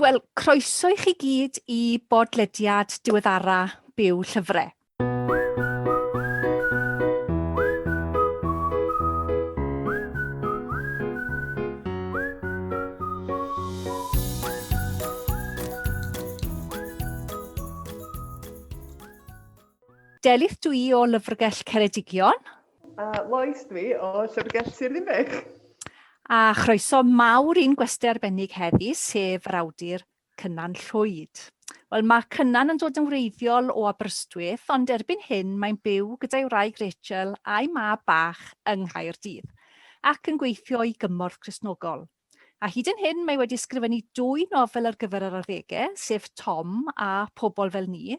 Wel, croeso i chi gyd i bodlediad diweddara Byw Llyfre. Delyth dw i o Lyfrgell Ceredigion, A Lois dwi o Llyfrgell Sir Ddinbych. A chroeso mawr i'n gwesty arbennig heddi, sef yr awdur Cynan Llwyd. Wel, mae Cynan yn dod yn wreiddiol o Aberystwyth, ond erbyn hyn mae'n byw gyda'i wraig Rachel a'i mab bach yng Nghaerdydd, ac yn gweithio i gymorth Cristnogol. A hyd yn hyn, mae wedi ysgrifennu dwy nofel ar gyfer yr arddegau, sef Tom a Pobl Fel Ni,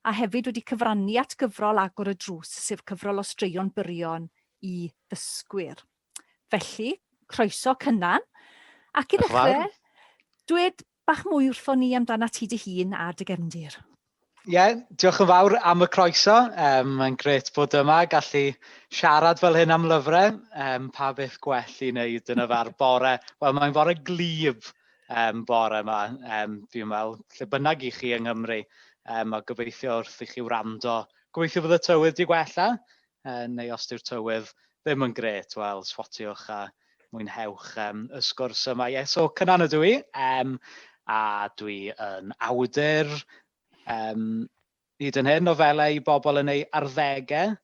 a hefyd wedi cyfrannu at gyfrol Agor y Drws, sef cyfrol o straeon byrion i ddysgwyr. Felly, croeso Cynan. Ac i ddechrau, dwed Bach mwy wrthon ni amdanat ti dy hun a dy gefndir. Ie, diolch yn fawr am y croeso. Um, Mae'n gret bod yma, gallu siarad fel hyn am lyfrau. Um, pa beth gwell i wneud yn yfa'r bore? Wel, mae'n fore glyb um, bore yma, um, fi'n meddwl, lle bynnag i chi yng Nghymru. Um, a gobeithio wrth i chi wrando, gobeithio bod y tywydd di gwella. Yym, neu os dyw'r tywydd ddim yn grêt, wel, swatiwch a mwynhewch um, y sgwrs yma. Ie, yeah, so Cynan ydw i, um, a dwi yn awdur um, hyd yn hyn nofelau i bobl yn ei arddegau,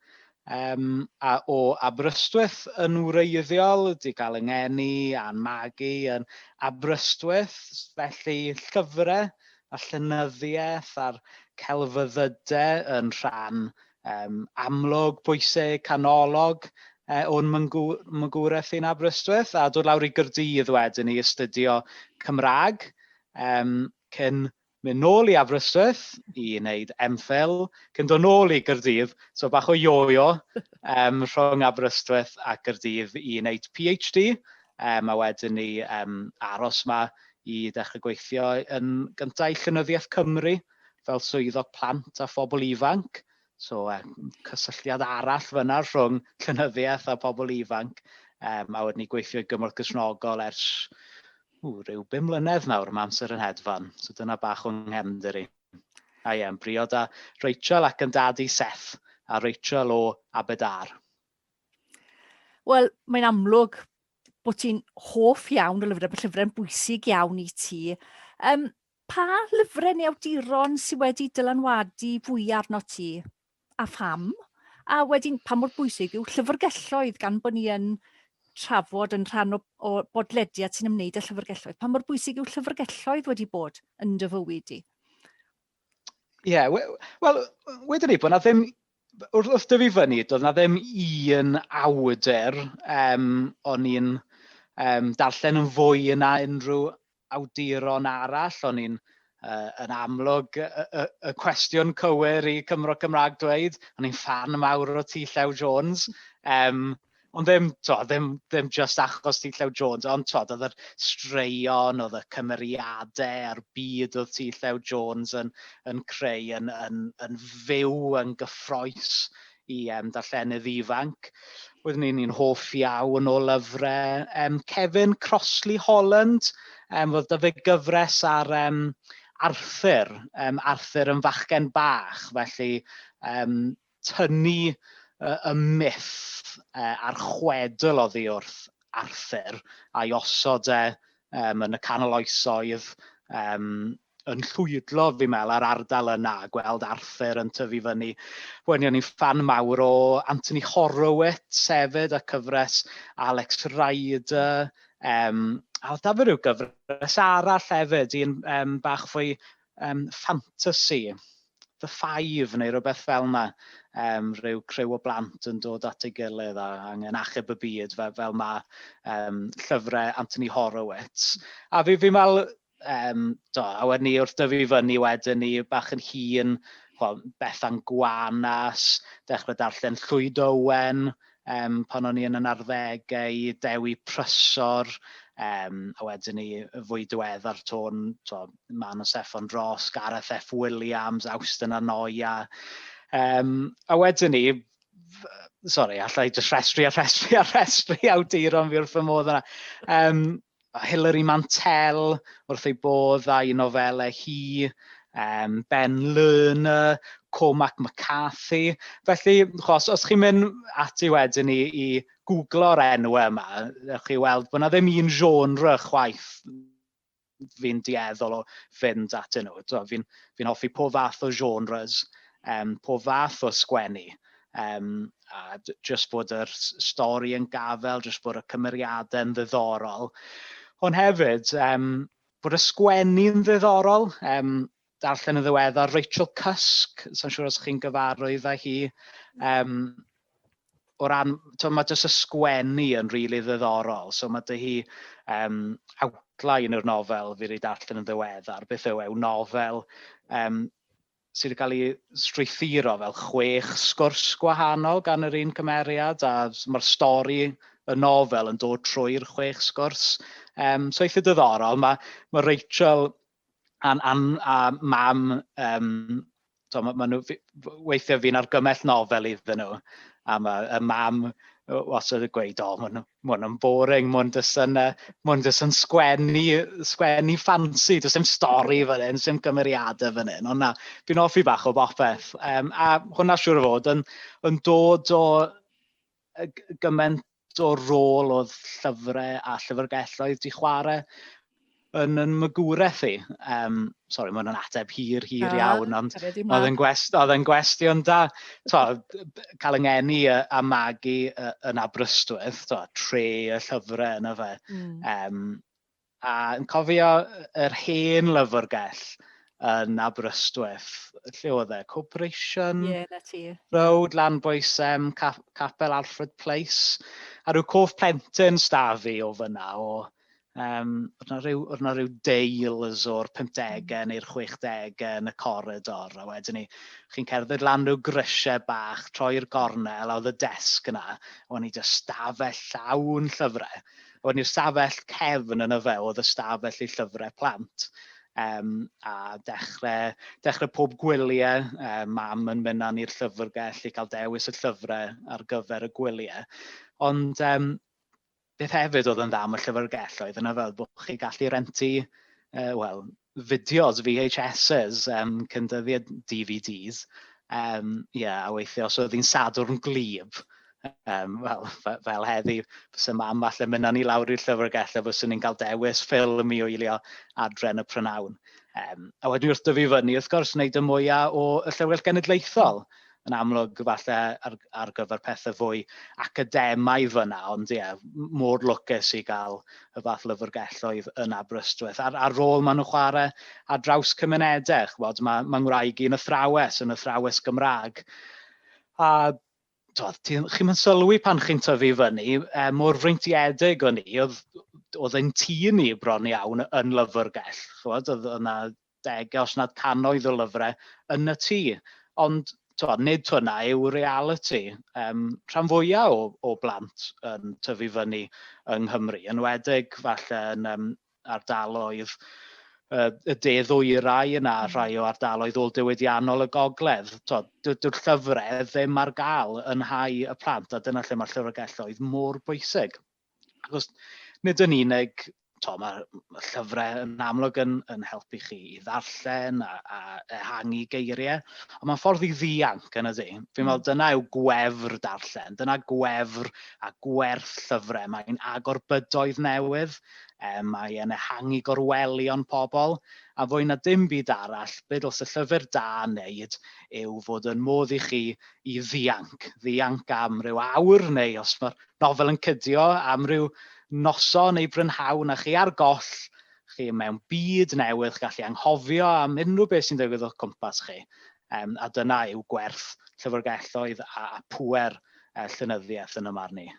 um, a o Aberystwyth yn wreiddiol, di gael yng ngeni a'n magu yn Aberystwyth, felly llyfrau a llynyddiaeth a'r celfyddydau yn rhan um, amlwg, bwysig, canolog uh, o'n mygwraeth i'n Aberystwyth a dod lawr i Gyrdydd wedyn i astudio Cymraeg um, cyn mynd nôl i Aberystwyth i wneud MPhil, cyn dod nôl i Gyrdydd, so bach o ioio um, rhwng Aberystwyth a Gyrdydd i wneud PhD, um, a wedyn ni um, aros yma i ddechrau gweithio yn gyntaf i Llynyddiaeth Cymru, fel swyddog plant a phobl ifanc, so um, cysylltiad arall fyna rhwng llynyddiaeth a phobl ifanc, um, a wedyn ni gweithio i gymorth gysnogol ers ww, rhyw bum mlynedd nawr, mae amser yn hedfan, so dyna bach o'n nghefnder i. A ie, yn briod a Rachel ac yn dad i Seth, a Rachel o Abedar. Wel, mae'n amlwg bod ti'n hoff iawn o lyfrau, bod llyfrau'n bwysig iawn i ti. Um, Pa lyfrau neu awduron sydd wedi dylanwadu fwya arnot ti, a pham? A wedyn, pa mor bwysig yw llyfrgelloedd gan bod ni yn trafod yn rhan o, o bodlediad sy'n ymwneud â llyfrgelloedd? Pa mor bwysig yw llyfrgelloedd wedi bod yn dy fywyd di? Ie, yeah, wel, we, wedyn ni bod yna ddim wrth, wrth dyfu fyny, doedd na ddim un awdur um, o'n i'n um, darllen yn fwy yna unrhyw awduron arall, o'n i'n uh, yn amlwg y, y, y cwestiwn cywir i Cymro Cymraeg dweud, o'n i'n fan mawr o T. Llew Jones, um, Ond ddim, to, ddim, ddim just achos ti Llew Jones, ond to, oedd yr straeon, oedd y cymeriadau a'r byd oedd ti Llew Jones yn, yn creu, yn, yn, yn fyw, yn gyffroes i um, darllenydd ifanc. Oeddwn i'n un hoff iawn o lyfrau um, Kevin Crossley Holland, um, oedd dyfu gyfres ar um, Arthur, um, Arthur yn fachgen bach, felly um, tynnu y myth a'r chwedl oddi wrth Arthur a'i osod e yn y canol oesoedd, yn llwydlo fi'n meddwl a'r ardal yna, gweld Arthur yn tyfu fyny. Wen i o'n i'n ffan mawr o Anthony Horowitz hefyd a cyfres Alex Rider, a oedd 'da fi ryw gyfres arall hefyd, un bach fwy Yym ffantasi, The Five neu rywbeth fel 'na. Yym rhyw criw o blant yn dod at ei gilydd a angen achub y byd fe- fel ma' yym llyfre Anthony Horowitz. A fi fi'n me'wl yym do, a wedyn 'ny wrth dyfu fyny wedyn 'ny bach yn hŷn ch'mo' Bethan Gwanas, dechre darllen Llwyd Owen, um, pan o'n i yn yn arddegau, Dewi Prysor, um, a wedyn ni fwy diweddar tôn, to, Man o Seffon Dros, Gareth F. Williams, Austin Anoia. Um, a wedyn ni, sorry, allai just rhestri a rhestri a rhestri awduron fi wrth fy modd yna. Um, Hilary Mantel wrth ei bodd â'i nofelau hi, um, Ben Lerner, Cormac McCarthy. Felly, chos, os chi'n mynd ati wedyn i, i googlo'r enw yma, ewch chi weld bod yna ddim un genre chwaith fi'n dieddol o fynd at nhw. Fi'n fi hoffi pob fath o genres, um, pob fath o sgwennu. Um, a jyst bod yr stori yn gafel, jyst bod y cymeriadau yn ddiddorol. Ond hefyd, um, bod y sgwennu yn ddiddorol. Um, darllen yn ddiweddar Rachel Cusk, sy'n siŵr os chi'n gyfarwydd â hi. Um, o ran, to, mae jyst y sgwennu yn rili really ddiddorol. So mae dy hi um, outline o'r nofel fi wedi darllen yn ddiweddar. Beth yw e? Yw nofel um, sydd yn cael ei strwythuro fel chwech sgwrs gwahanol gan yr un cymeriad, a mae'r stori y nofel yn dod trwy'r chwech sgwrs. Um, so eitha dyddorol. Mae, mae Rachel a'n an, a mam, um, so, mae, mae nhw, weithiau fi'n argymell nofel iddyn nhw, a mae y mam wastad yn gweud, o, maen nhw, Mae'n yn boring, mae'n jyst yn, uh, mae'n jyst yn sgwennu, sgwennu ffansi, jyst yn stori fan hyn, sy'n gymeriadau fan hyn, ond na, fi'n offi bach o bopeth. Um, a hwnna siwr o fod yn, yn dod o gymaint o rôl oedd llyfrau a llyfrgelloedd di chwarae yn yn magwraeth i. Um, sorry, mae'n ateb hir, hir ah, iawn, ond oedd yn, gwest, oedd yn gwestiwn da. To, cael yng ngeni a magu yn Aberystwyth, to, tre y llyfrau yna fe. Mm. Um, a yn cofio yr hen lyfrgell yn Aberystwyth, lle oedd e? Corporation yeah, na ti. Road, Lanboesem, Capel Alfred Place. A rhyw cof plentyn stafi o fyna o Yym, oedd 'na ryw, oedd 'na ryw deils o'r pumdegau neu'r chwechdegau yn y coridor, a wedyn ni, chi'n cerdded lan rhyw grisiau bach, troi'r gornel, a oedd y desg yna, a o'n i jyst stafell llawn llyfrau. A wedyn ni'r stafell cefn yn y fe oedd y stafell i llyfrau plant. Um, a dechrau, dechrau pob gwyliau, um, mam yn mynd â ni'r llyfrgell i cael dewis y llyfrau ar gyfer y gwyliau. Ond um, Beth hefyd oedd yn dda am y llyfrgell oedd yna fel bod chi gallu rentu, uh, wel, fideos, VHSs, um, cyndyddiad DVDs, um, yeah, a weithio os oedd hi'n sadwrn glib, um, fel, fel heddi, fes y mam falle mynna ni lawr i'r llyfrgell a fes ni'n cael dewis ffilm i wylio adren y prynawn. Um, a wedyn wrth dyfu fyny, wrth gwrs, wneud y mwyaf o y llyfrgell genedlaethol. yn amlwg falle ar, ar gyfer pethau fwy academaidd fyna, ond ie, yeah, mor lwcus i gael y fath lyfrgelloedd yn Aberystwyth. A'r, ar rôl maen nhw'n chwarae ar draws cymunedau, chwbod, mae, mae ngwraig i'n athrawes, yn athrawes Gymraeg. A chi'n chi yn sylwi pan chi'n tyfu fyny, e, mor freintiedig o'n i, oedd, oedd ein tîn ni bron iawn yn lyfrgell. Chwbod, oedd yna degau os nad cannoedd o lyfrau yn y tŷ. Ond tywed, nid hwnna yw realiti um, rhan fwyaf o, o blant yn tyfu fyny yng Nghymru, yn wedig falle yn um, ardaloedd y de ddwyrain yna, hmm. rhai o ardaloedd ôl diwydiannol y gogledd. Dyw'r llyfrau ddim ar gael yn hau y plant, a dyna lle mae'r llyfrgelloedd mor bwysig. Achos nid yn unig, to, mae llyfrau yn amlwg yn, yn helpu chi i ddarllen a, a ehangu geiriau, ond mae'n ffordd i ddianc yn y di. Fi'n meddwl mm. dyna yw gwefr darllen, dyna gwefr a gwerth llyfrau. Mae'n agor bydoedd newydd, e, mae e'n ehangu gorwelion pobl, a fwy na dim byd arall, byd os y llyfr da yn neud yw fod yn modd i chi i ddianc, ddianc am ryw awr neu os mae'r nofel yn cydio am ryw noson neu brynhawn a chi ar goll, chi mewn byd newydd, chi'n gallu anghofio am unrhyw beth sy'n digwydd o'ch cwmpas chi. Um, a dyna yw gwerth llyfrgelloedd a, a pwer uh, llynyddiaeth yn y marn i.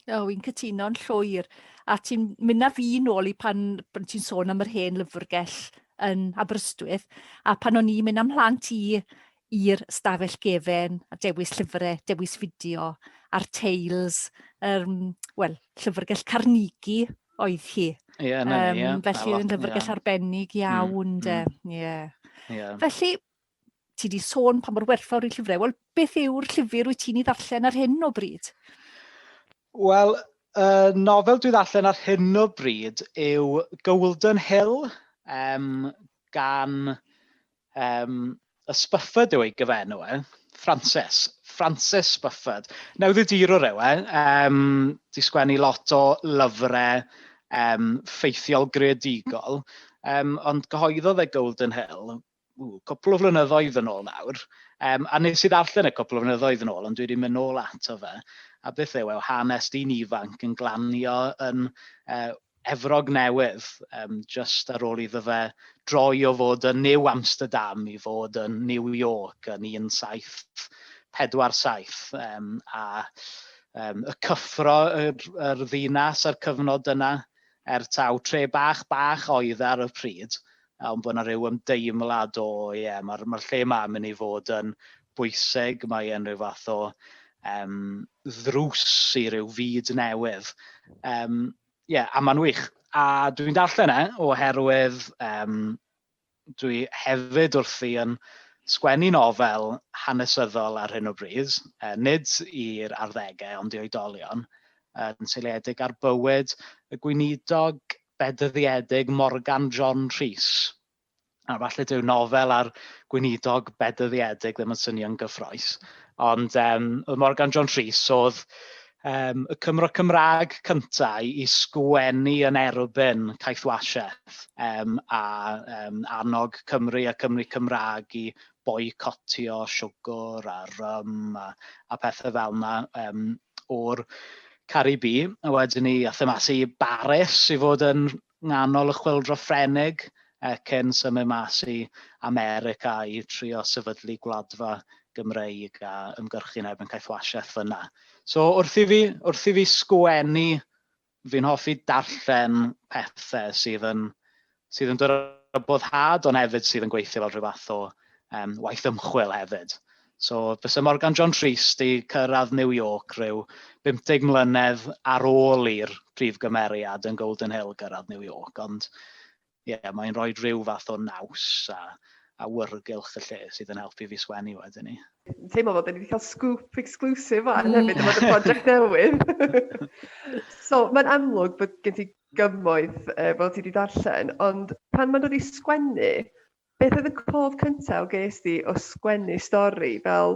O, oh, i'n cytuno'n llwyr. A ti'n mynd â fi nôl i pan, pan ti'n sôn am yr hen lyfrgell yn Aberystwyth, a pan o'n i'n mynd am mhlant i i'r stafell gefen, a dewis llyfre, dewis fideo, a'r teils, yr, wel, Llyfrgell Carnegie oedd hi. Ie, yeah, na, um, yeah. Felly, yn llyfrgell yeah. arbennig hmm, iawn, mm, de. Mm. Yeah. Yeah. Felly, ti di sôn pa mor werthfawr i llyfrau. Wel, beth yw'r llyfr wyt ti'n ei ddarllen ar hyn o bryd? Wel, uh, nofel dwi ddarllen ar hyn o bryd yw Golden Hill um, gan Yym, y Spufford yw ei gyfenw e. Frances. Frances Spufford. Newyddiadurwr yw e. Um, di sgwennu lot o lyfrau um, ffeithiol greadigol, um, ond gyhoeddodd e Golden Hill ww, cwpl o flynyddoedd yn ôl nawr, um, a nes i ddarllen y cwpl o flynyddoedd yn ôl, ond dwi wedi mynd nôl ato fe, a beth yw e, hanes dyn ifanc yn glanio yn uh, Efrog Newydd, um, just ar ôl iddo fe droi o fod yn New Amsterdam i fod yn New York yn 1747, um, a um, y cyffro yr, yr ddinas a'r cyfnod yna, er taw tre bach bach oedd e ar y pryd, Ond bod 'na rhyw ymdeimlad o ie ma'r ma'r lle 'ma yn mynd i fod yn bwysig, mae e'n rhyw fath o um, ddrws i ryw fyd newydd. Um, ie, a mae'n wych. A dwi'n darllen e oherwydd um, dwi hefyd wrthi yn sgwennu nofel hanesyddol ar hyn o bryd, uh, nid i'r arddegau ond i oedolion, yn seiliedig ar bywyd y gweinidog bedyddedig Morgan John Rhys. A falle dyw nofel a'r gweinidog bedyddedig ddim yn swnio'n gyffroes. Ond um, oedd Morgan John Rhys oedd um, y Cymro Cymraeg cyntaf i sgwennu yn erbyn caeth wasiaeth um, a um, annog Cymru a Cymru Cymraeg i boicotio siwgr a rym a, a pethau fel yna um, o'r Caru Bi, a wedyn ni athon mas i Baris i fod yn nghanol y Chwyldro Ffrenig ac yn symud mas i America i trio sefydlu gwladfa Gymreig a ymgyrchu yn erbyn caethwasiaeth fyna. So wrth i fi, wrth i fi sgwennu, fi'n hoffi darllen pethe sydd yn sydd yn dod o boddhad ond hefyd sydd yn gweithio fel rhyw fath o um, waith ymchwil hefyd. So, fysa Morgan John Rhys di cyrraedd New York rhyw 50 mlynedd ar ôl i'r prif gymeriad yn Golden Hill gyrraedd New York, ond ie, yeah, mae'n rhoi rhyw fath o naws a, a wyrgylch y lle sydd yn helpu fi sgwennu wedyn ni. Teimlo fod wedi cael scoop exclusive fan mm. hefyd, fod y prosiect newydd. so, mae'n amlwg bod gen ti gyfoeth yy fel ti 'di darllen ond pan ma'n dod i sgwennu beth oedd y cof cynta o ges di o sgwennu stori fel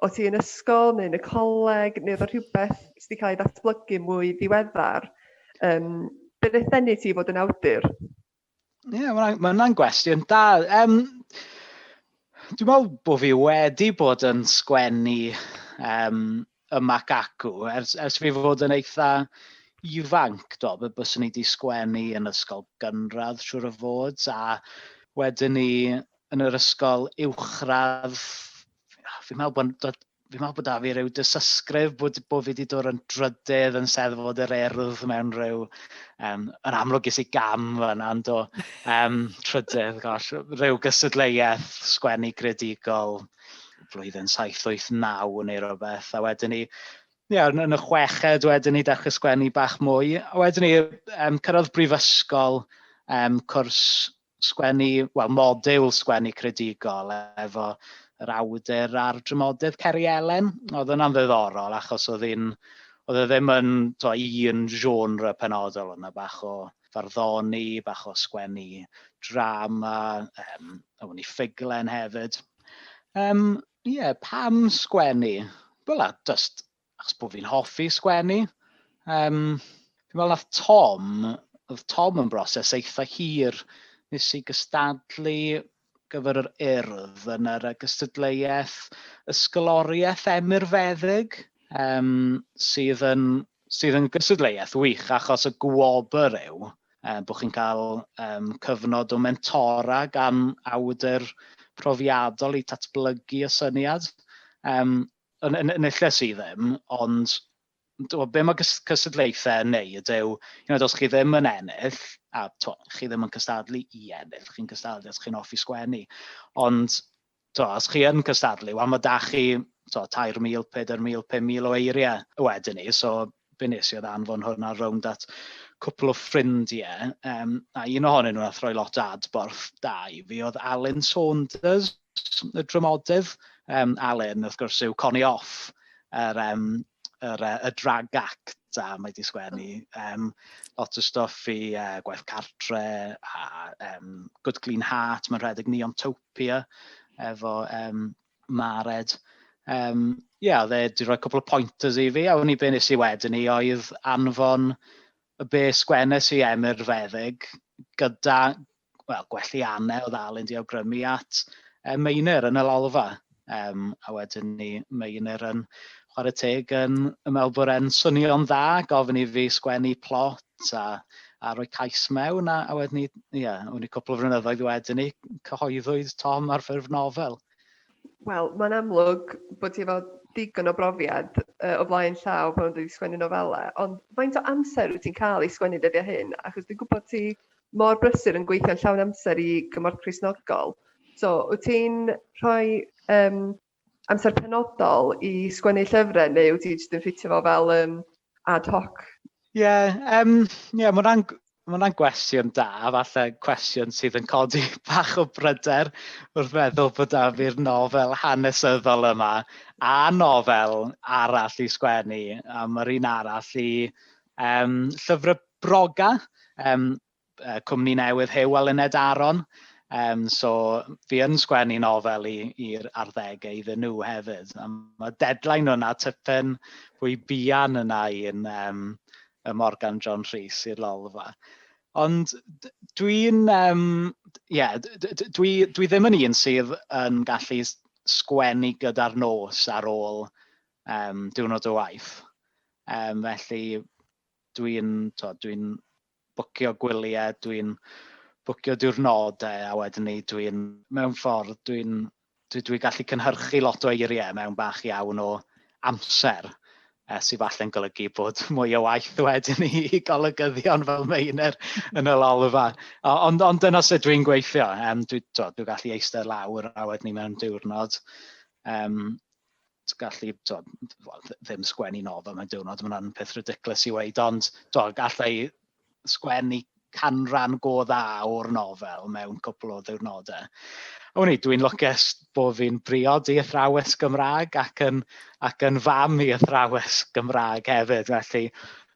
o' ti yn ysgol neu yn y coleg neu o'dd o rhywbeth sy' 'di ca'l ei ddatblygu mwy ddiweddar yym be' nath ddenu ti i fod yn awdur? Ie, yeah, mae hwnna'n gwestiwn da. Um, dwi'n meddwl bod fi wedi bod yn sgwennu um, y Mac Acw ers, ers fi fod yn eitha ifanc, do, fe byswn i wedi sgwennu yn ysgol gynradd siwr o fod, a wedyn ni yn yr ysgol uwchradd, fi'n meddwl bod fi'n meddwl bod 'da fi rhyw dysysgrif bod, bod fi wedi dod yn drydedd yn seddfod yr erdd mewn rhyw... Um, yn amlwg ges i gam fanna, ond do. Um, trydedd, gosh, rhyw gystadleuaeth sgwennu gredigol flwyddyn 789 neu rhywbeth. A wedyn ni, ie, yn, yn y chweched wedyn ni dechrau sgwennu bach mwy. A wedyn ni, um, cyrraedd brifysgol, um, cwrs sgwennu, wel, modiwl sgwennu credigol efo yr awdur a'r dramodydd Ceri Elen. Oedd yna'n ddiddorol achos oedd un, oedd e ddim yn to, un genre penodol, oedd yna bach o farddoni, bach o sgwennu drama, um, oedd ni ffuglen hefyd. Um, Ie, yeah, pam sgwennu? Wel, just achos bod fi'n hoffi sgwennu. Um, fi'n meddwl nath Tom, oedd Tom yn broses eitha hir, nes i gystadlu gyfer yr urdd yn yr gystadleuaeth ysgoloriaeth emyrfeddyg, um, sydd yn sydd yn gystadleuaeth wych achos y gwobr yw uh, bod chi'n cael um, cyfnod o mentora gan awdur profiadol i tatblygu y syniad. Um, Yn, yn, yn ille sydd ddim, ond to, be mae cystadlaethau yn neud yw, you know, os chi ddim yn ennill, a to, chi ddim yn cystadlu i ennill, chi'n cystadlu os chi'n offi sgwennu, ond to, os chi yn cystadlu, wel mae da chi to, 3,000, 4,000, 5,000 o eiriau wedyn ni, so be nes i oedd anfon hwn ar rownd at cwpl o ffrindiau, um, a un ohonyn nhw a throi lot adborth da i fi oedd Alun Saunders, y drymodydd. Um, Alun, wrth gwrs, yw Connie Off, yr, um, yr, uh, y drag act, a mae wedi sgwennu um, lot o stuff i uh, Gwaith Cartre a um, Good Clean Heart, mae'n rhedeg Neontopia efo um, Mared. Um, ie, oedd e wedi rhoi cwpl o pointers i fi, a wni be nes i wedyn i oedd anfon y be sgwennes i Emyr Feddyg gyda well, gwelli anne oedd Alun di awgrymu at e, Meinir yn y lolfa. Um, a wedyn ni Meinir yn chwarae teg yn, yn meddwl bod e'n swnio'n dda, gofyn i fi sgwennu plot, a, a rhoi cais mewn, a, a wedyn ni, ia, o'n i cwpl o flynyddoedd wedyn ni, cyhoeddwyd Tom ar ffurf nofel. Wel, mae'n amlwg bod ti efo digon o brofiad uh, o flaen llaw pan wedi sgwennu nofelau, ond faint o amser wyt ti'n cael i sgwennu dyddiau hyn? Achos dwi'n gwybod ti mor brysur yn gweithio'n llawn amser i gymorth Crisnogol. So, wyt ti'n rhoi um, amser penodol i sgwennu llyfrau neu wyt ti jyst yn ffitio fo fel um, ad hoc? Ie, yeah, um, yeah, mae hwnna'n Mae hwnna'n gwestiwn da, falle cwestiwn sydd yn codi bach o bryder wrth feddwl bod da fi'r nofel hanesyddol yma a nofel arall i sgwennu, a mae'r un arall i um, llyfrau broga. Um, uh, cwmni newydd Huw a Lyned Aron. Um, so fi yn sgwennu nofel i'r arddegau iddyn nhw hefyd. Um, mae deadline yna typen fwy bian yna i'n um, y Morgan John Rhys i'r lolfa. Ond dwi'n, um, yeah, dwi, dwi ddim yn un sydd yn gallu sgwennu gyda'r nos ar ôl um, diwrnod o waith. Um, felly dwi'n dwi bwcio gwyliau, dwi'n bwcio diwrnodau a wedyn 'ny dwi'n... mewn ffordd dwi'n... dwi dwi gallu cynhyrchu lot o eiriau mewn bach iawn o amser yy sy falle'n golygu bod mwy o waith wedyn i i golygyddion fel Meinir yn y lolfa. O, ond ond dyna sut dwi'n gweithio. Yym dwi t'o' dwi gallu eistedd lawr a wedyn 'ny mewn diwrnod yym gallu, tod, well, ddim sgwennu nofel mewn diwrnod, mae hwnna'n peth ridiculous i weid, ond tod, gallai sgwennu canran go dda o'r nofel mewn cwpl o ddiwrnodau. A wni, dwi'n lwcus bod fi'n briod i athrawes Gymraeg ac yn, ac yn fam i athrawes Gymraeg hefyd, felly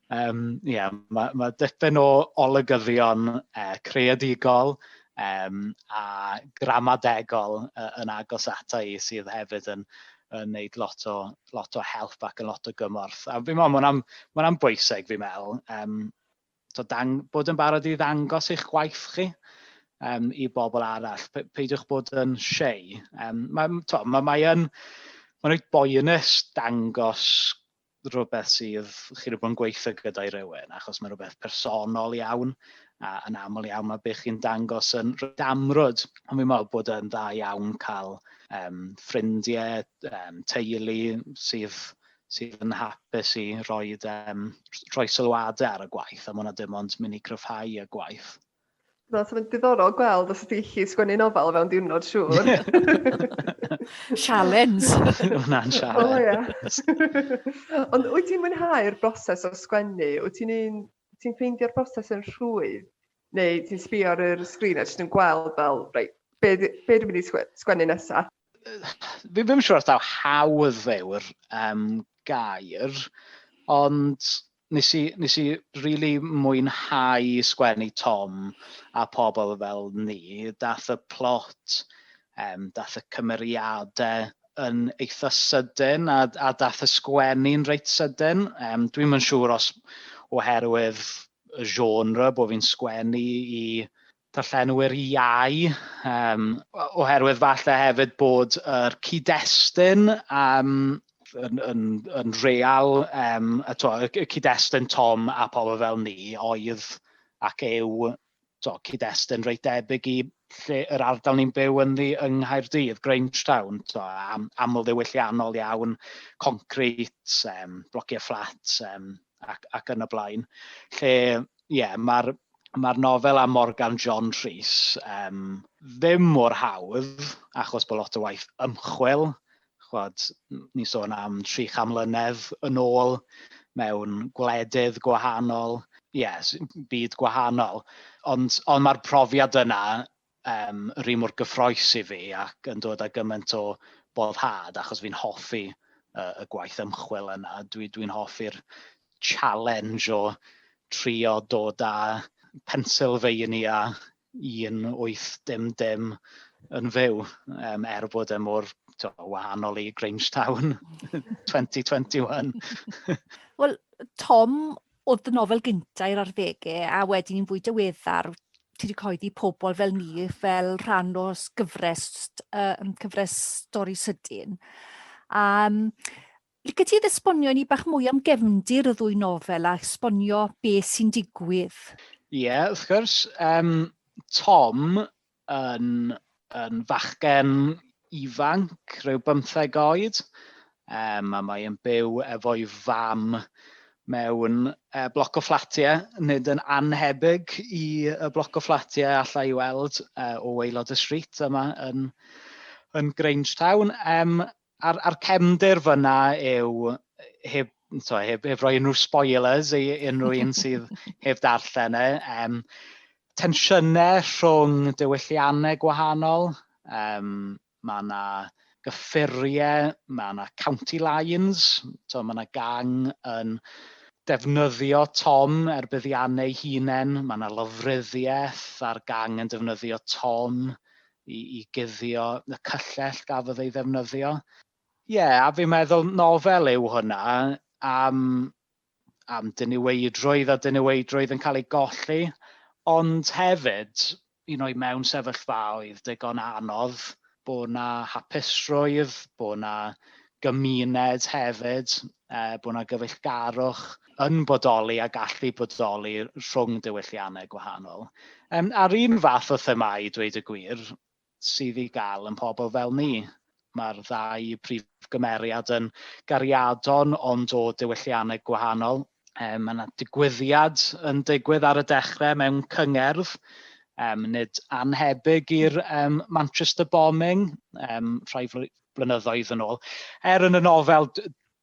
Um, yeah, mae, ma dipyn o olygyddion uh, creadigol um, a gramadegol uh, yn agos ata i sydd hefyd yn, yn gwneud lot o, lot o help ac yn lot o gymorth. A fi'n meddwl, mae'n am, ma am bwysig fi'n meddwl, um, so dang, bod yn barod i ddangos eich gwaith chi um, i bobl arall. Pe peidiwch bod yn siei. Um, mae, to, mae, mae yn, mae'n rhaid boenus dangos rhywbeth sydd, chi wedi bod yn gweithio gyda'i rywun, achos mae'n rhywbeth personol iawn, a yn aml iawn mae bych chi'n dangos yn damrwyd. Ond fi'n meddwl bod yn dda iawn cael um, ffrindiau, um, teulu sydd sydd yn hapus i roi, um, rhoi sylwadau ar y gwaith, a mae hwnna dim ond mynd i gryfhau y gwaith. Na, so mae'n diddorol gweld os ydy chi sgwennu nofel fewn diwrnod siŵr. Sialens! Hwna'n sialens. O, ia. Ond wyt ti'n mwynhau'r broses o sgwennu? Wyt ti'n un... ti'n ffeindio'r broses yn rhwydd? Neu ti'n sbio ar yr sgrin a jyst yn gweld fel, reit, be, be dwi'n mynd i sgwennu nesaf? Fi ddim yn siŵr os daw hawdd yw'r um, gair, ond Nes i, nes i rili mwynhau sgwennu Tom a pobl fel ni. Daeth y plot, yym, daeth y cymeriadau yn eitha sydyn a a daeth y sgwennu'n reit sydyn. Yym, dwi'm yn siŵr os oherwydd y genre bod fi'n sgwennu i darllenwyr iau, um, oherwydd falle hefyd bod yr cyd-destun um, yn, yn, yn real, um, a to, y cyd-destun Tom a pobl fel ni oedd ac yw to, cyd-destun reit debyg i lle yr ardal ni'n byw ynddi yng Nghaerdydd, Grangetown, to, am, aml ddiwylliannol iawn, concret, um, blociau fflat, um, ac, ac yn y blaen. Lle, ie, yeah, mae'r mae nofel am Morgan John Rhys um, ddim mor hawdd, achos bod lot o waith ymchwil. Chwad, ni sôn am tri cham mlynedd yn ôl mewn gwledydd gwahanol, yes, byd gwahanol. Ond, ond mae'r profiad yna yym ry mor gyffrous i fi ac yn dod â gymaint o boddhad achos fi'n hoffi uh, y gwaith ymchwil yna. Dwi, dwi'n hoffi'r challenge o trio dod â Pennsylvania 1800 yn fyw, um, er bod e mor to, wahanol i Grangetown 2021. Wel, Tom, oedd dy nofel gynta i'r arddege a wedyn yn fwy diweddar ti wedi coeddi pobl fel ni fel rhan o gyfres uh, cyfres stori sydyn. Um, Lyca ti esbonio ni bach mwy am gefndir y ddwy nofel a esbonio beth sy'n digwydd? Ie, yeah, wrth gwrs. Um, Tom yn, yn fachgen ifanc, rhyw bymtheg oed, um, a mae yn byw efo'i fam mewn uh, bloc o fflatiau, nid yn anhebyg i y bloc o fflatiau allai i weld uh, o weilod y street yma yn, yn Grange Town. Um, A'r, a'r cefndir fyna yw, heb, so, heb, heb roi unrhyw spoilers i unrhyw un sydd heb darllen e, um, tensiynau rhwng diwylliannau gwahanol, um, mae yna gyffuriau, mae yna county lines, so, mae yna gang yn defnyddio Tom er buddiannau hunain, mae yna lofruddiaeth a'r gang yn defnyddio Tom i, i guddio y cyllell gafodd ei ddefnyddio. Ie, yeah, a fi'n meddwl nofel yw hwnna am, am diniweidrwydd a diniweidrwydd yn cael ei golli, ond hefyd, un o'i mewn sefyllfaoedd digon anodd, bod na hapusrwydd, bod na gymuned hefyd, uh, bod yna gyfeillgarwch yn bodoli a gallu bodoli rhwng diwylliannau gwahanol. Um, a'r un fath o themau, dweud y gwir, sydd i gael yn pobl fel ni. Mae'r ddau prif gymeriad yn gariadon ond o diwylliannau gwahanol. Um, mae yna digwyddiad yn digwydd ar y dechrau mewn cyngerdd, um, nid anhebyg i'r um, Manchester bombing, um, rhai blynyddoedd yn ôl. Er yn y nofel,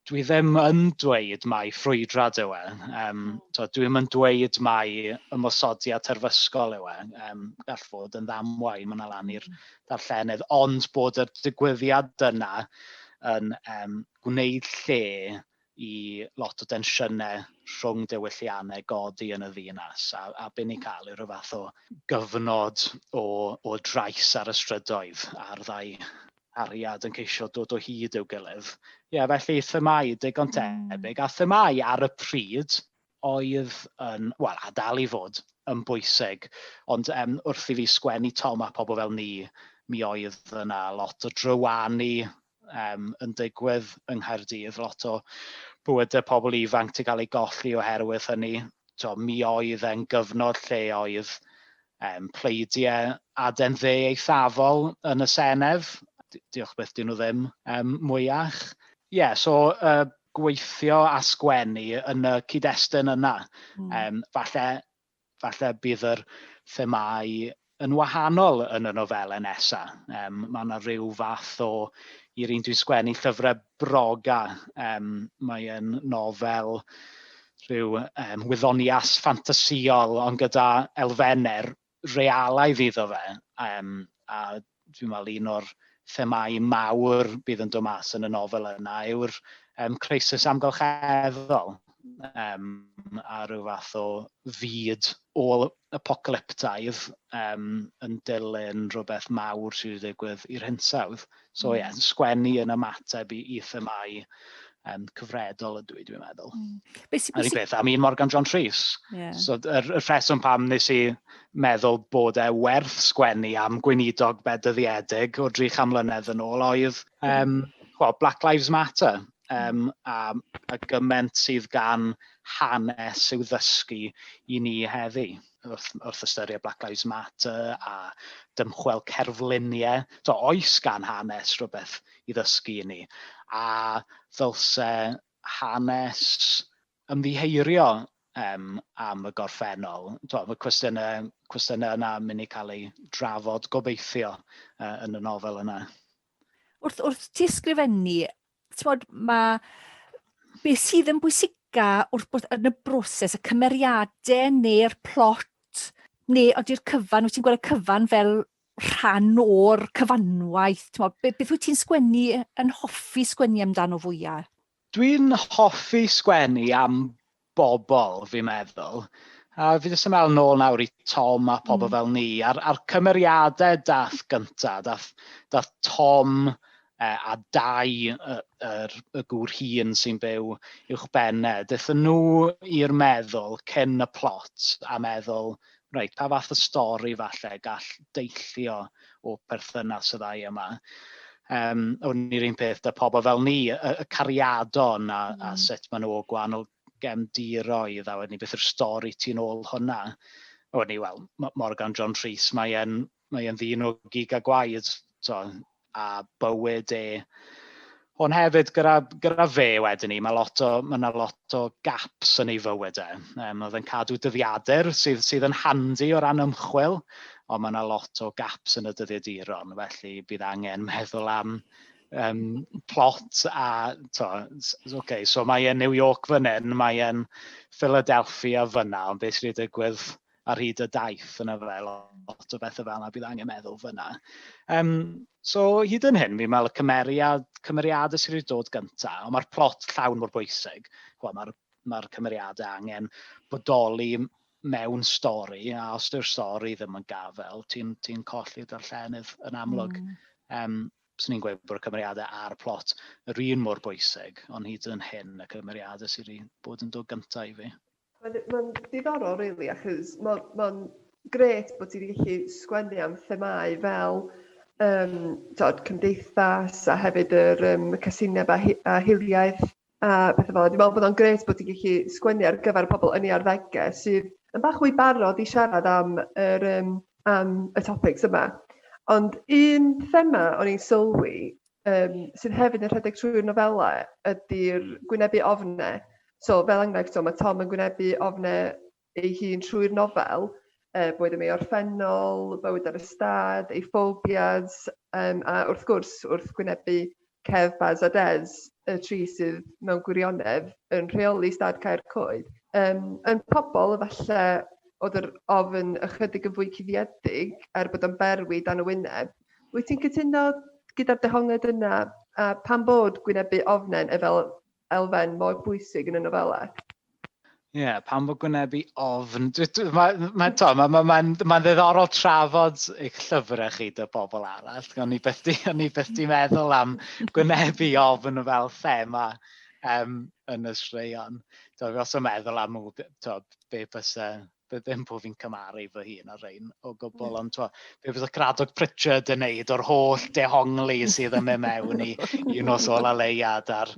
dwi ddim yn dweud mai ffrwydrad yw e. Um, so, dwi ddim yn dweud mai ymosodiad terfysgol yw e. Um, gall fod yn ddamwain, mae'n alan i'r mm. darllenydd, ond bod y digwyddiad yna yn um, gwneud lle i lot o densiynau rhwng diwylliannau godi yn y ddinas, a, a byn ni'n cael yw rhyw fath o gyfnod o, o drais ar y strydoedd, a'r ddau hariad yn ceisio dod o hyd i'w gilydd. Ie, yeah, felly themau digon hmm. tebyg, a themau ar y pryd oedd yn, wel, a dal i fod yn bwysig, ond um, wrth i fi sgwennu Tom a pobl fel ni, mi oedd yna lot o drywanu um, yn digwydd yng Nghaerdydd, lot o bywydau pobl ifanc ti'n cael ei golli oherwydd hynny. To, mi oedd e'n gyfnod lle oedd um, pleidiau aden dde eithafol yn y Senedd. Diolch beth dyn nhw ddim um, mwyach. Ie, yeah, so uh, gweithio a sgwennu yn y cyd-destun yna. Mm. Um, falle falle bydd yr themâu yn wahanol yn y nofelau nesa. Um, mae yna rhyw fath o, i'r un dwi'n sgwennu llyfrau broga, um, mae'n nofel rhyw um, wyddonias ffantasiol ond gyda elfennau realaidd iddo fe. Um, a Dwi'n meddwl un o'r themâu mawr bydd yn dod mas yn y nofel yna yw'r um, crisis amgylcheddol um, a rhyw fath o fyd ôl apocalyptaidd um, yn dilyn rhywbeth mawr sydd wedi digwydd i'r hinsawdd. So ie, mm. yeah, sgwennu yn ymateb i, i themau um, cyfredol ydw i, dwi'n meddwl. Mm. Be sy, be sy... beth am un Morgan John Rhys. Yeah. So, y, y rheswm pam nes i meddwl bod e werth sgwennu am gweinidog bedyddiedig o dri cham mlynedd yn ôl oedd um, well, Black Lives Matter um, a, a gyment sydd gan hanes i'w ddysgu i ni heddi. wrth, wrth ystyried Black Lives Matter a dymchwel cerfluniau. So, oes gan hanes rhywbeth i ddysgu i ni? A ddylse hanes ymddiheirio um, am y gorffennol? So, mae cwestiynau, cwestiynau yna yn mynd i cael eu drafod gobeithio uh, yn y nofel yna. Wrth, wrth ti ysgrifennu Tywod, mae beth sydd yn bwysica wrth bod yn y broses, y cymeriadau neu'r plot, neu ydy'r cyfan, wyt ti'n gweld y cyfan fel rhan o'r cyfanwaith? Tywod, beth wyt ti'n sgwennu, yn hoffi sgwennu amdano fwyaf? Dwi'n hoffi sgwennu am bobl fi'n meddwl. A fi jyst yn meddwl nôl nawr i Tom a pobl mm. fel ni, a'r, ar cymeriadau dath gyntaf, dath, dath Tom e, a dau y, yr, y gŵr hun sy'n byw uwch benned, dath nhw i'r meddwl cyn y plot a meddwl, reit, pa fath o stori falle gall deillio o perthynas y ddau yma. Um, o'n i'r un peth da pobl fel ni, y, y cariadon a, mm. a sut maen nhw o gwahanol gefndiroedd a wedyn ni beth yw'r stori ti'n ôl hwnna. O'n i, wel, Morgan John Rhys, mae'n mae e'n ddyn o gig a gwaed, so, a bywyd e. Ond hefyd, gyda, gyda fe wedyn ni, mae, lot o, mae yna lot o gaps yn ei fywyd e. Um, oedd yn cadw dyddiadur sydd, sydd yn handi o ran ymchwil, ond mae yna lot o gaps yn y dyddiaduron, felly bydd angen meddwl am um, plot a... To, okay, so mae e'n New York fan hyn, mae e'n Philadelphia fyna, ond beth sydd wedi digwydd ar hyd y daith yna fe, lot o bethau fel yna bydd angen meddwl fyna. Um, so hyd yn hyn, fi'n meddwl y cymeriad, cymeriadau sydd wedi dod gyntaf, ond mae'r plot llawn mor bwysig. Mae'r ma cymeriadau angen bodoli mewn stori, a os yw'r stori ddim yn gafel, ti'n ti colli darllenydd yn amlwg. Mm. Um, Swn i'n gweud bod y cymeriadau a'r plot yr un mor bwysig, ond hyd yn hyn y cymeriadau sydd wedi bod yn dod gyntaf i fi. Mae'n mae'n ddiddorol rili achos mae'n mae'n grêt bod ti wedi gallu sgwennu am themâu fel um, tod, cymdeithas a hefyd yr um, casineb a, hi, a hiliaeth a pethau fel Dwi'n meddwl bod o'n grêt bod ti'n gallu sgwennu ar gyfer pobl yn ei arddegau sydd yn bach fwy barod i siarad am, yr, um, am y topics yma. Ond un thema o'n i'n sylwi um, sydd hefyd yn rhedeg trwy'r nofela ydy'r gwynebu ofne. So fel enghraifft, so, mae Tom yn gwynebu ofne ei hun trwy'r nofel, uh, boed yn ei orffennol, bywyd ar y stad, ei ffobias, um, a wrth gwrs wrth gwynebu Kev, Baz a Des, y tri sydd mewn gwirionedd yn rheoli stad Caer Coed. Um, yn pobl, efallai oedd yr ofn ychydig yn fwy cuddiedig er bod o'n berwi dan y wyneb, Wyt ti'n cytuno gyda'r dehongliad yna, a pam bod gwynebu ofnen e fel elfen mor bwysig yn y nofela? Ie, yeah, pam bod gwynebu ofn? Mae'n ma, ma, ma, ma, ma ddiddorol trafod eich llyfrau chi dy pobl arall. O'n i beth di, o'n i beth di meddwl am gwynebu ofn fel thema um, yn y straeon. Dwi'n os o'n meddwl am to, be bys be ddim bod fi'n cymaru fy hun ar rein o gwbl, ond twa, be bydd y Gradog Pritchard yn neud o'r holl dehongli sydd yn mynd mewn i un nos ôl a leiad a'r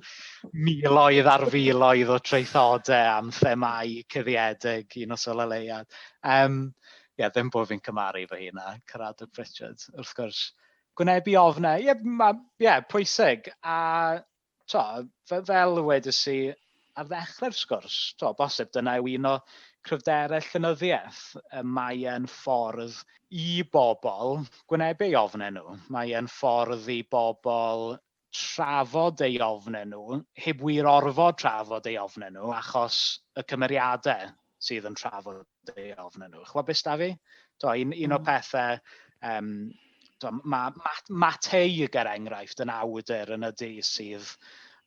miloedd ar filoedd o treithodau am themau cyddiedig un nos ôl a leiad. Um, ie, yeah, ddim bod fi'n cymaru fy hun a Caradog Pritchard, wrth gwrs. Gwynebu ofnau, ie, yeah, yeah, pwysig. A to, fe- fel wedes i ar ddechrau'r sgwrs, to, bosib dyna yw un o cryfderau llenyddiaeth, y mae e'n ffordd i bobl gwynebu ei ofnau nhw, mae e'n ffordd i bobl trafod ei ofnau nhw, heb wir orfod trafod ei ofnau nhw achos y cymeriadau sydd yn trafod ei ofn nhw. Chwa beth da fi? Do, un, un mm. o pethau, um, do, mae ma, ma teig er enghraifft yn awdur yn y du sydd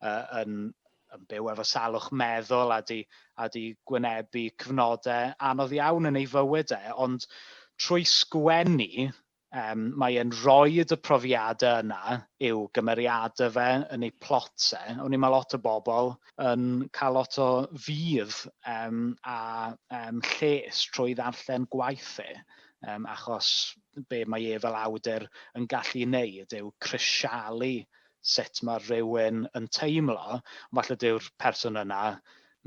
uh, yn, yn byw efo salwch meddwl a di, a di gwynebu cyfnodau anodd iawn yn ei fywyd e, ond trwy sgwennu Yym, mae e'n rhoid y profiade yna i'w gymeriade fe, yn ei plot e. O'n i ma lot o bobl yn cael lot o fudd yym a yym lles trwy ddarllen gwaith e yym achos be mae e fel awdur yn gallu neud yw crisialu sut mae rhywun yn teimlo, ond falle dyw'r person yna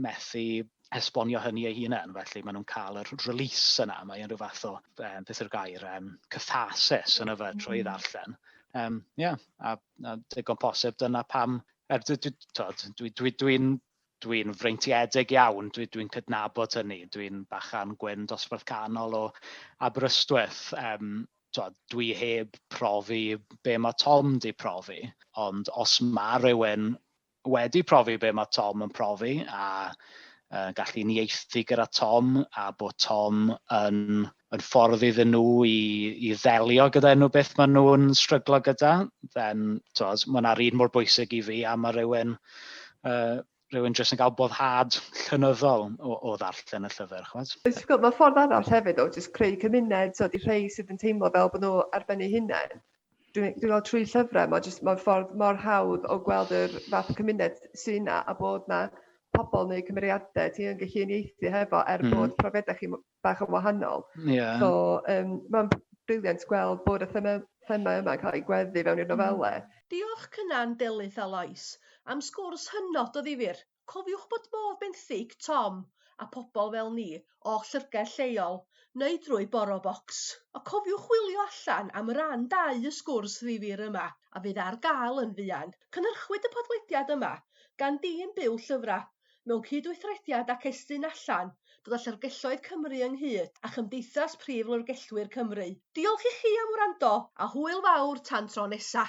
methu esbonio hynny ei hunain, felly maen nhw'n cael yr release yna, mae unrhyw fath o, um, beth yw'r gair, um, catharsis yn yfed trwy mm. ddarllen. Um, yeah, a, a digon posib dyna pam Er, dwi, dwi, dwi, dwi, dwi dwi'n freintiedig iawn, dwi, dwi'n cydnabod hynny, dwi'n bachan gwyn dosbarth canol o Aberystwyth. Um, twod, dwi heb profi be mae Tom di profi, ond os mae rhywun wedi profi be mae Tom yn profi a uh, gallu nieithu gyda Tom a bod Tom yn yn ffordd iddyn nhw i, i ddelio gyda unrhyw beth maen nhw'n stryglo gyda, then, tywed, mae yna'r un mor bwysig i fi a mae rhywun, uh, rhywun jyst yn cael boddhad llynyddol o, o ddarllen y llyfr, chwad. Mae ffordd arall hefyd o jyst creu cymuned, so di rhai sydd yn teimlo fel bod nhw ar ben eu hunain. Dwi'n dwi meddwl trwy llyfrau, mae jyst mae'r ffordd mor hawdd o gweld yr fath cymuned sy'n na a bod na pobl neu cymeriadau ti yn gallu uniaethu hefo er mm. bod profiadau chi bach yn wahanol. Ie. So yym ma'n brilliant gweld bod y thema thema yma'n cael ei gweddu fewn i'r nofele. Diolch Cynan, Delyth a Lois am sgwrs hynod o ddifyr. Cofiwch bod modd benthyg Tom a pobl fel ni o'ch llyfrgell lleol neu drwy BoroBox. A cofiwch chwilio allan am ran dau y sgwrs ddifyr yma a fydd ar gael yn fuan. Cynhyrchwyd y podlediad yma gan dîm Byw Llyfrau mewn cydweithrediad ac estyn allan, dod â Llyfrgelloedd Cymru ynghyd â Chymdeithas Prif Lyfrgellwyr Cymru. Diolch i chi am wrando, a hwyl fawr tan tro nesa!